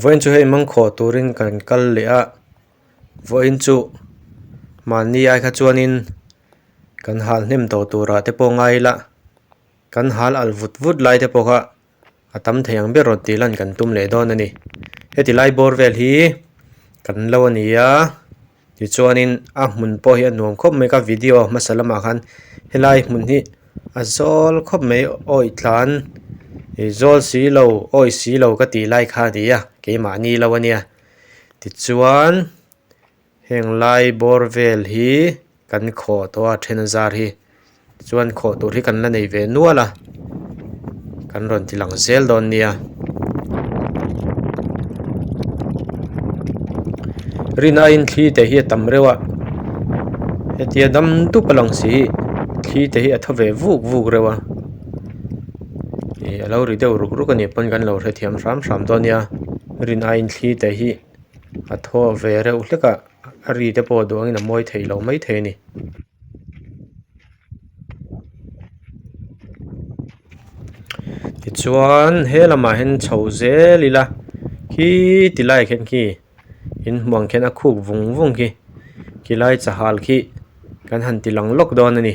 Vawiin chu hei mang khawh turin ka rawn kal leh a, vawiin chu mahni ai kha chuanin kan hal hnem tawh turah te pawh ngai ila, kan hal alh vut vut lai te pawh kha a tam thei ang ber rawn tih ila an kan tum leh dawn a ni, heti lai bawr vel hi kan lo a ni a. Tichuanin a hmun pawh hi a nuam khawp mai ka video hmasa lamah khan helai hmun hi a zawl khawp mai awi tlan ih zawl si lo awi si lo ka tih lai kha nia keimahni lo a nia tichuan heng lai bawr vel hi kan khawh tawh a then a zar hi. chuan khawh tur hi kan la nei ve nual a kan rawn ti lang zel dawn nia rin aiin thli te hi a tam reuh a hetia dam dup a lang si hi thli te hi a tha ve vuk vuk reuh a ih a lo ri deuh ruk ruk anih pawn kan lo hrethiam hram hram dawn nia rin aiin thli te hi a thaw ve reuh hlek a. a ri te pawh duang in a mawi theih loh mai thei a ni tichuan he lamah hian chho zel ila khi ti lai khen khi in hmuang khian a khuk vung vung khi khi lai chahal khi kan han ti lang lawk dawn a ni.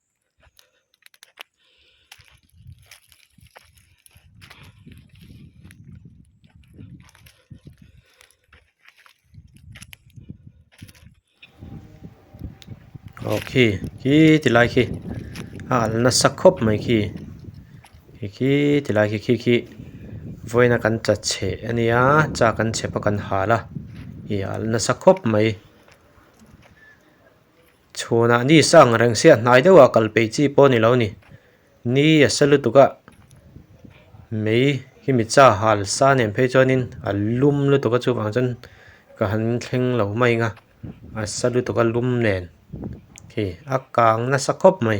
aw khi khi ti lai khi a al nasa khawp mai khi khi khi ti lai khi khi khi vawiina kan tla che a nia cha kan che pawh kan hal a ih a al nasa khawp mai. Chhunah ni sa ang reng siah hnai deuha kal peih chi pawh ni lo ni. Ni a sa lutuk a, mei hi mi cha hal sa nen phei chuanin a lum lutuk a chuvang chuan ka han thleng lo mai anga a sa lutuk a lum nen khi a kang nasa khawp mai.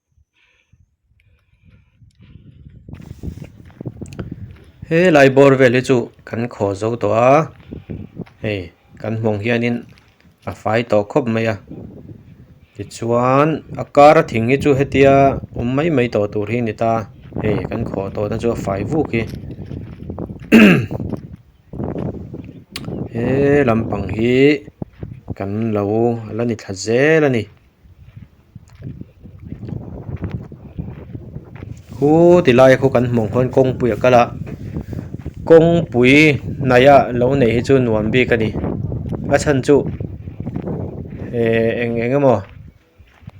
helai bawr vel hi chu kan khaw zo tawh a hei kan hmawng hian in a fai tawh khawp mai a tichuan a kara thing hi chu hetia awm mai mai tawh tur hi a ni ta hei kan khaw tawh na chu a fai vuk hi he lampang hi kan lo la ni thla zel a ni. Hu ti laia khaw kan hmuh ang khawn kawngpui a kal a kawngpui hnaihah lo neih hi chu nuam bik a ni a chhan chu ehh eng eng emaw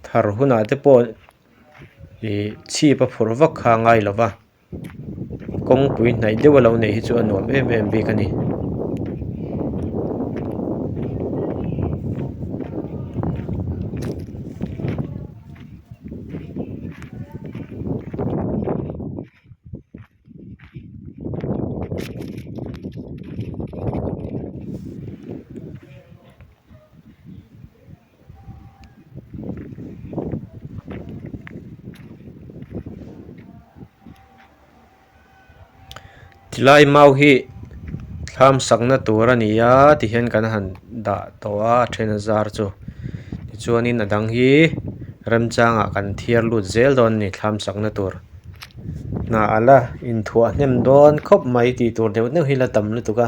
thar hunah te pawh ihh chhip a phurh vak kha a ngailo va. kawngpui hnaih deuh a lo neih hi chu a nuam em em bik a ni tilai mau hi thlam sak na tur a ni a ti hian kan han dah tawh a a then a zar chu tichuan in a dang hi remchang ah kan thiar lut zel dawn a ni thlam sak na tur hna a la in thuah hnem dawn khawp mai ti tur deuh deuh hi la tam lutuk a.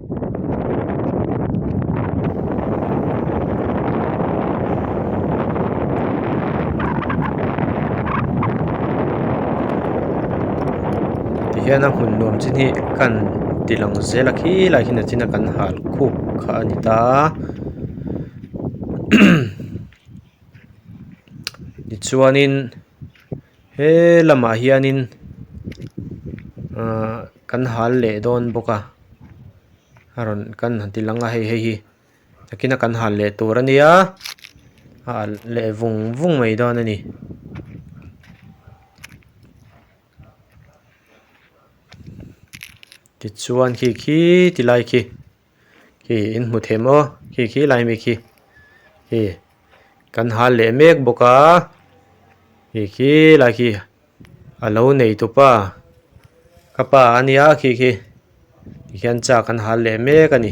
hian a hun nuam chin hi kan ti lang zel a khi lai khi nâ chin a kan hâl khûk kha a ni ta tichuanin-- He lamah hianin ahh kan hal leh dawn bawk a a rawn kan han ti langa hei hei hi takin a kan hal leh tur a nia a alh leh vung vung mai dawn a ni tichuan khi khi ti lai khi. khi in hmu thei maw khi khi lai mi khi khi kan hal leh mek bawk a khi khi lai khi a lo nei tup a ka pa a nia khi khi tikhian chak kan hal leh mek a ni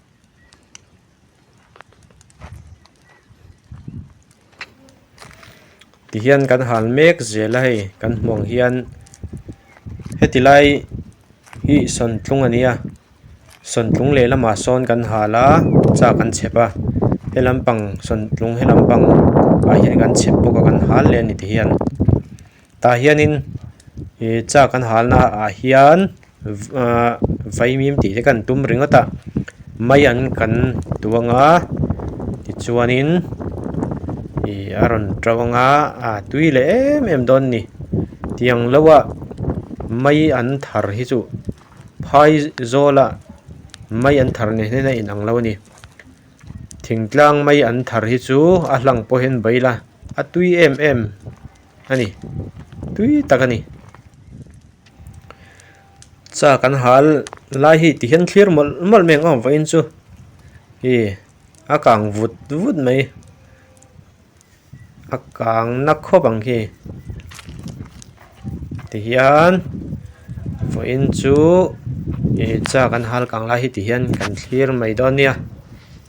tihian kan hal mek zela hei kan hmuh ang hian heti lai hi sawnthlung a nia sawnthlung leh lamah sawn kan hal a chak an chep a helam pang sawnthlung helam pang ah hian kan chep bawk a kan hal leh a ni tihian. Tah hianin ih chak an halna ah hian ah vaimim tih te kan tum ringawt a mai an kan tuang a tichuanin ih a rawn to ang a ah tui leh em em dawn a ni tiang loa mai an thar hi chu phai zawla mai an thar neh nena inang lo a ni thingtlang mai an thar hi chu a hlang pawhin baih ila a tui em em-- a ni tui tak a ni châ kan hâl lai hi ti hian thlîr mawlh mawlh mai ang a awm fai in chu hî a kâng vut vut mai a kâng na khawp ang khi ti hian vaw in chu ihh châ kan hâl kâng lai hi ti hian kan thlîr mai dâwn nia.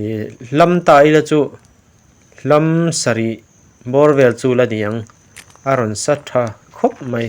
ihh hlam ta ila chu hlam sarih bawr vel chu la ni ang a rawn sa tha khawp mai.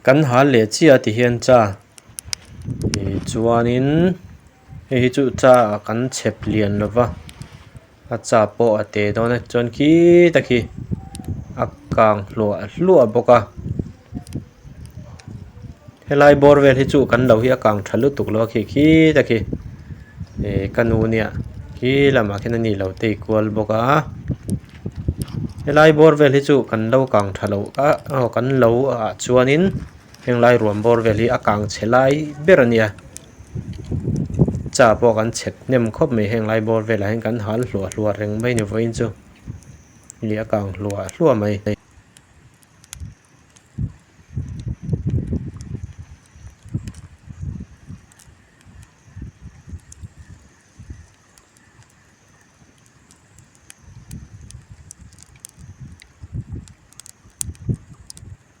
kan hal leh chiah ti hian cha tichuanin hei hi chu cha kan chep lian lova. A cha pawh a te dawn a chuan khi tak hi a kang hluah hluah bawk a helai bawr vel hi chu kan lo hi a kang tha lutuk lo a khi khi tak hi eh ka nu nia khi lamah khian a ni lo tei kual bawk a helai bawr vel hi chu kan lo kang tha lo a aw kan lo ah chuan in heng lai ruam bawr vel hi a kang chhe lai ber a nia. Cha pawh kan chhep hnem khawp mai heng lai bawr velah hian kan hal hluah hluah reng mai ni vawiin chu ni a kang hluah hluah mai.